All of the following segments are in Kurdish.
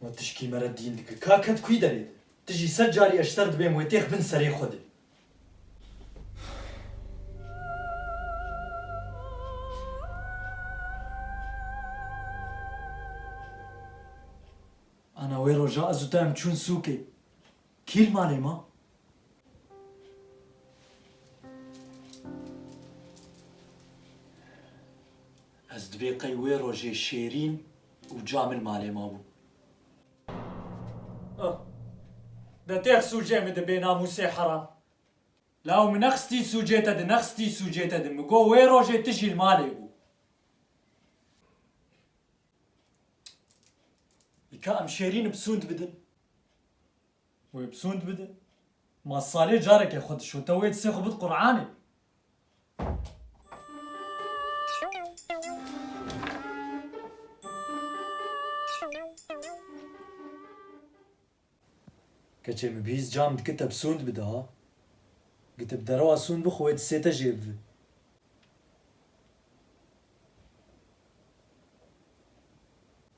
Wan tişkî me re dîn dike. Ka ket kuyî derê de. Ti jî sed carî eşser dibêm wê têx bin serê xwe de. Ana wê roja ez û te em çûn sûkê. Kî li malê ma? Ez dibê qey wê rojê Şêrîn û Camil malê ma bû. De têx sûcê min di bê namûsê heram. Law min nexistî sûcê te di nexistî sûcê te di min got wê rojê tu jî li malê bû. Îka em şêrîn bi sûnd bidin. Wê bi sûnd bidin. Ma salê careke xwe dişo te wê disê xwe bid Quranê. Keçê min bihîst cam dikiteb sûnd bide ha. Gitib derewa sûn bixwe wê disête jê bibi.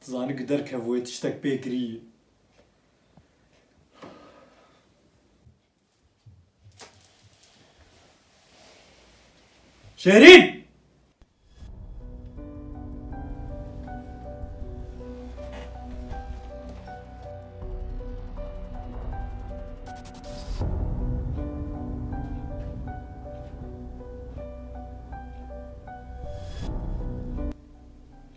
Tu zanî ku derkevûye tiştek pê kirî. Şêrîn!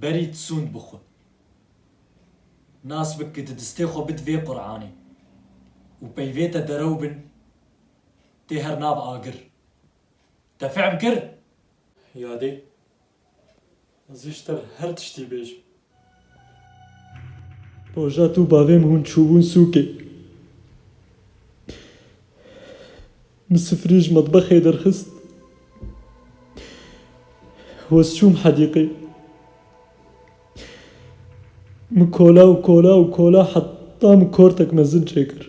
Berî tisûnd bi xwe. Nas bik ku di distê xwe bid vê Quranê û peyvê te derew bin tê her nav agir. Te fehm kir? Yadê Ez ji te her tiştî bêjim. Roja tu û bavê min hûn çûbûn sûkê, min sifirê ji metbexê derxist, hoz çûm hedîqê. Min kola û kola û kola heta min kortek mezin çêkir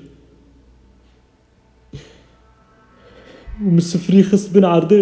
û min sifirî xist bin erdê.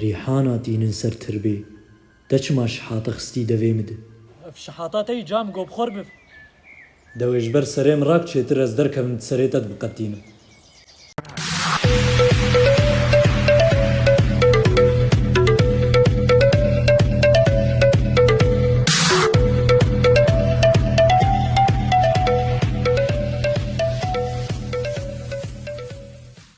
Rîhana tînin ser tirbê. Te çima şihata xistî devê min de? Ev şihata te yî ca min gob xor bib. Dewê ji ber serê min rak çêtir ez derkevim di serê te dibiqetînim.